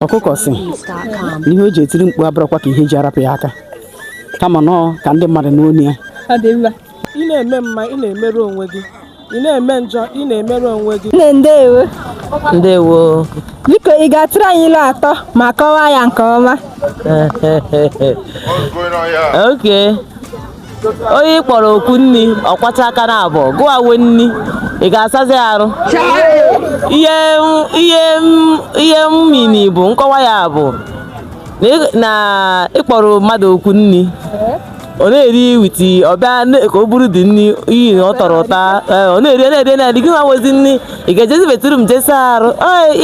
ọkụkọ sị ihe o ji etiri mkpu abụrọkwa ka ihe ji ya rapụ ya aka kama na ọ ka ndị mmadụ nụ onu ya ị na-eme mma ị na-emerụ onwe gị ị na-eme njọ ị na-emerụ onwe gị nne ndewo ndewo biko ị ga-atụrụ anyị ilu atọ ma kọwaa ya nke ọma oke onye ị kpọrọ oku nri ọ kwachaa aka na abụọ gụwa nwe nri ị ga-asazi arụ ihe ihe ihe meaning bụ nkọwa ya bụ na ị kpọrọ mmadụ oku nri ọ na-eri witi ọ bịa ka o buru dị nri iyi na ọ tọrọ ụtọ ọ na-eri na-eri na-eri gị nwa nwezi nri ị ga-ejezi bathroom jee saa arụ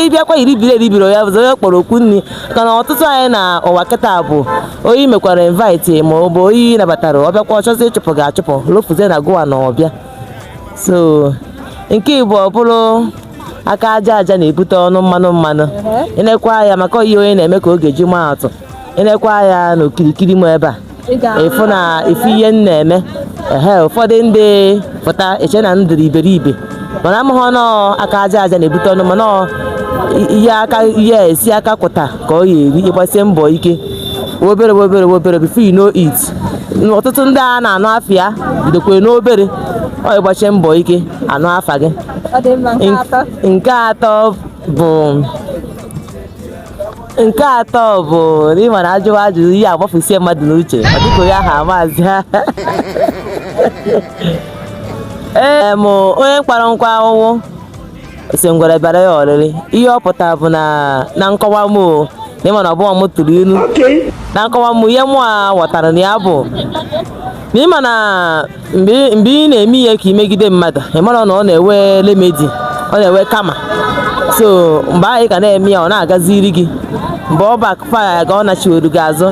ị bịakwa iribiri eribiri ya bụzị onye ị kpọrọ oku nri ka na ọtụtụ anyị na ụwa kịta bụ onye ị mekwara invite ma ọ bụ onye ị nabatara ọ bịakwa ọ chọzie ịchụpụ gị achụpụ lofuzie na gụwa na ọbịa so nke ịbụọ bụrụ aka aja aja na-ebute ọnụ mmanụ mmanụ ị nekwa ya maka ihe onye na-eme ka ọ ga-eji maa atụ ị nekwa ya n'okirikiri m ebe a ị fụ na ị fụ ihe m na-eme ehe ụfọdụ ndị pụta eche na m dịrị iberibe mana amaghị na ọ aka aja aja na-ebute ọnụ mmanụ ihe aka ihe e si aka kụta ka ọ ya-eri ị gbasie mbọ ike obere obere obere before you know it ọtụtụ ndị a na-anụ afa ya bidokwa n'obere ọ ị gbachaa mbọ ike a nụ afa gị nke atọ bụ nke atọ bụ na ị mara a jụwa ajụjụ ihe agbafusie mmadụ n'uche ọ dịka onye ahụ amazi ha ee m onye kpara nkụ ahụhụ sị ngwere bịara ya ọrịrị ihe ọ pụtara bụ na na nkọwa m o na ị ma na ọ bụrọ m tụrụ ilu na nkọwa m ihe mụwa ghọtara na ya bụ na ị ma na mgbe ị na-eme ihe ka i megide mmadụ ị mara na ọ na-enwe remedy ọ na-enwe karma so mgbe ahụ ị ka na-eme ya ọ na-agaziri gị mgbe ọ backfire gị ọ nachiweru gị azụ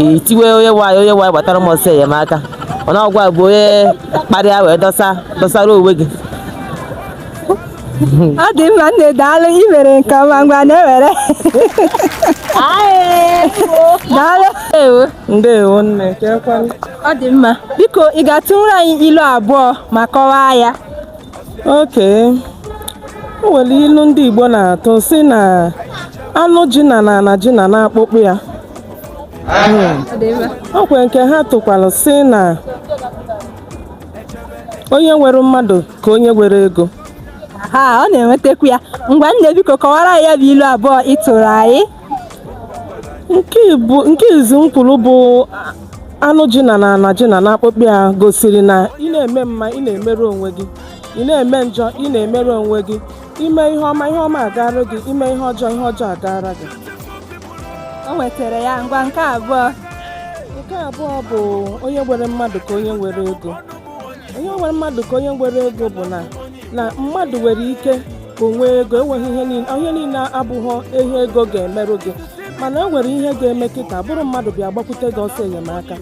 i tiwe onye nwe anyị onye nwe anyị gbatara m ọsọ enyemaka o na ọ gụwa bụ onye kpara ya wee dọsa dọsara onwe gị ọ dị mma nne daalụ ị mere nke ọma ngwa nne were daalụ ndewo nne ọ dị mma biko ị ga-atụrụ anyị ilu abụọ ma kọwaa ya oke o nwere ilu ndị Igbo na-atụ sị na anụ ji na na na ji na na akpụkpọ ya o nwekwe nke ha tụkwara sị na onye nwere mmadụ ka onye nwere ego ha ọ na-enwetakwa ya ngwa nne biko kọwara ya bụ ilu abụọ ị tụrụ anyị nke izizi m kwuru bụ anụ ji na na ana ji na na akpụkpọ ya gosiri na ị na-eme mma ị na-emere onwe gị ị na-eme njọ ị na-emere onwe gị ime ihe ọma ihe ọma agaara gị ime ihe ọjọọ ihe ọjọọ agaara gị o nwetara ya ngwa nke abụọ nke abụọ bụ onye nwere mmadụ ka onye nwere ego onye nwere mmadụ ka onye nwere ego bụ na na mmadụ nwere ike ka o nwee ego enweghị ihe niile abụghị ihe ego ga-emeru gị mana e nwere ihe ga-eme kịta ọ bụrụ mmadụ bịa gbakwute gị ọsọ enyemaka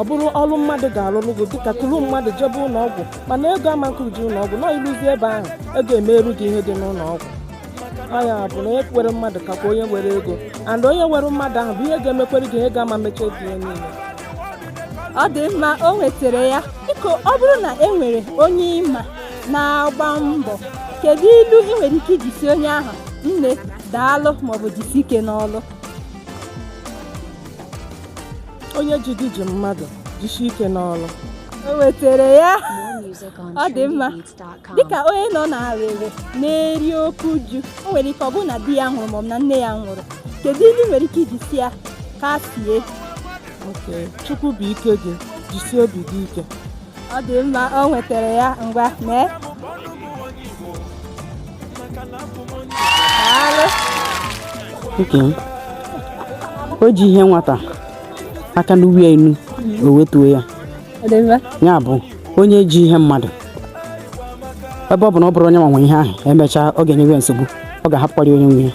ọ bụrụ ọlụ mmadụ ga-alụrụ gị dịka kuru mmadụ jebe ụnọ ọgwụ mana ego ama ekuje ụnọ ọgwụ na i luzie ebe ahụ ego emeru gị ihe dị n'ụnọ ọgwụ ya bụ na onye nwere mmadụ kakwa onye nwere ego and onye nwere mmadụ ahụ bụ ihe ga-emekwere gị ihe ego ama emecha obi ya niile ọ dị mma o nwetara ya biko ọ bụrụ na e nwere onye ị ma na-agba mbọ kedu ilu ị nwere ike iji si onye ahụ nne daalụ maọbụ jisi ike n'ọlụ onye ji gị ji mmadụ jisi ike n'ọlụ o nwetara ya ọ dị mma dịka onye nọ n'arịrị na-eri oke uju o nwere ike ọ bụrụ na di ya nwụrụ maọbụ na nne ya nwụrụ kedu ilu ị nwere ike iji si ya kasie chukwu bụ ike gị jisie obi gị ike ọ dị mma o nwetara ya ngwa mee o ji ihe nwata aka n'uwe ya enu o wetuo ya ya bụ onye ji ihe mmadụ ebe ọ bụ na ọ bụrọ onye nwa nwe ihe ahụ emechaa ọ ga-enyewe ya nsogbu ọ ga-ahapụkwara onye nwe ya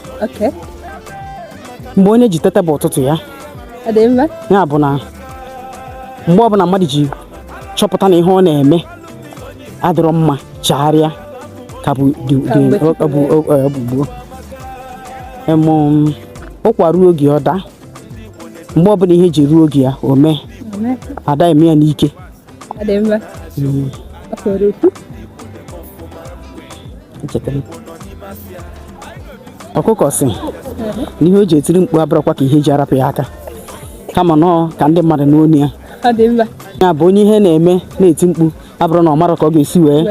mgbe onye ji tete bụ ụtụtụ ya ya bụ na mgbe ọbụla mmadụ ji chọpụta na ihe ọ na-eme adịrọ mma chagharịa ka bụ gboo ụkwa ruo oge ọ daa mgbe ọbụla ihe ji ruo oge ya o mee ada eme ya n'ike ọkụkọ sị na ihe o ji etiri mkpu abụrọkwa ka ihe ji ya rapụ ya aka kama na ọ ka ndị mmadụ nụ onu ya ya bụ onye ihe na-eme na-eti mkpu abụrọ na ọ mara ka ọ ga-esi wee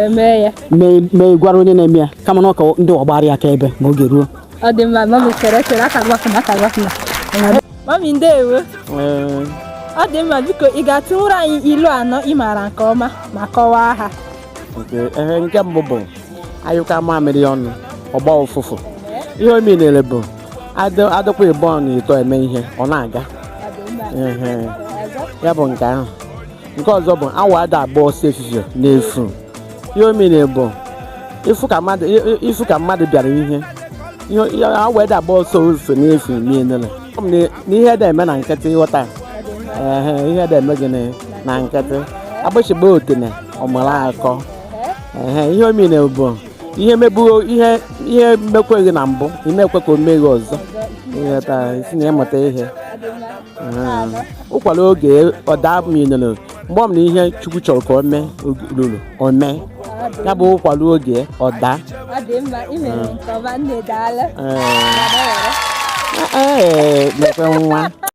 mee gwara onye na-eme ya kama na ọ ka ndị a gbaara ya aka ebe ma oge ruo mami ndewo ọ dị mma biko ị ga-atụnwuru anyị ilu anọ ị maara nke ọma ma kọwaa ha nke mbụ bụ a yụkọọ mamịrị ọnụ ọ gbaa ụfụfụ ihe ọ meanịrị bụ adịkwa ịbọ na ịtọ eme ihe ọ na-aga ya bụ nke ahụ nke ọzọ bụ awọ ada agba ọsọ efifie n'efu ihe ọ meanịrị bụ ị fụ ka mmadụ bịara ihe awọ ada agba ọsọ efifie n'efu meanịrị na ihe adị eme na nkịtị ị ghọta ihe adị eme gị na nkịtị agbịsị gbaa otene ọ mara akọ ihe ọ meanịrị bụ ihe mebuo ihe ihe mekwee gị na mbụ ị ma-ekwe ka o mee gị ọzọ ịghọta i si na ya mụta ihe Mm. ụkwa ruo oge ọ daa meanụrụ mgbe ọ bụna ihe chukwu chọrọ ka o mee oge ruru o mee ya bụ ụkwa ruo oge ọ daa ọ dị mma ị mere nke ọma nne daalụ Ee. Ee, mekwe nwa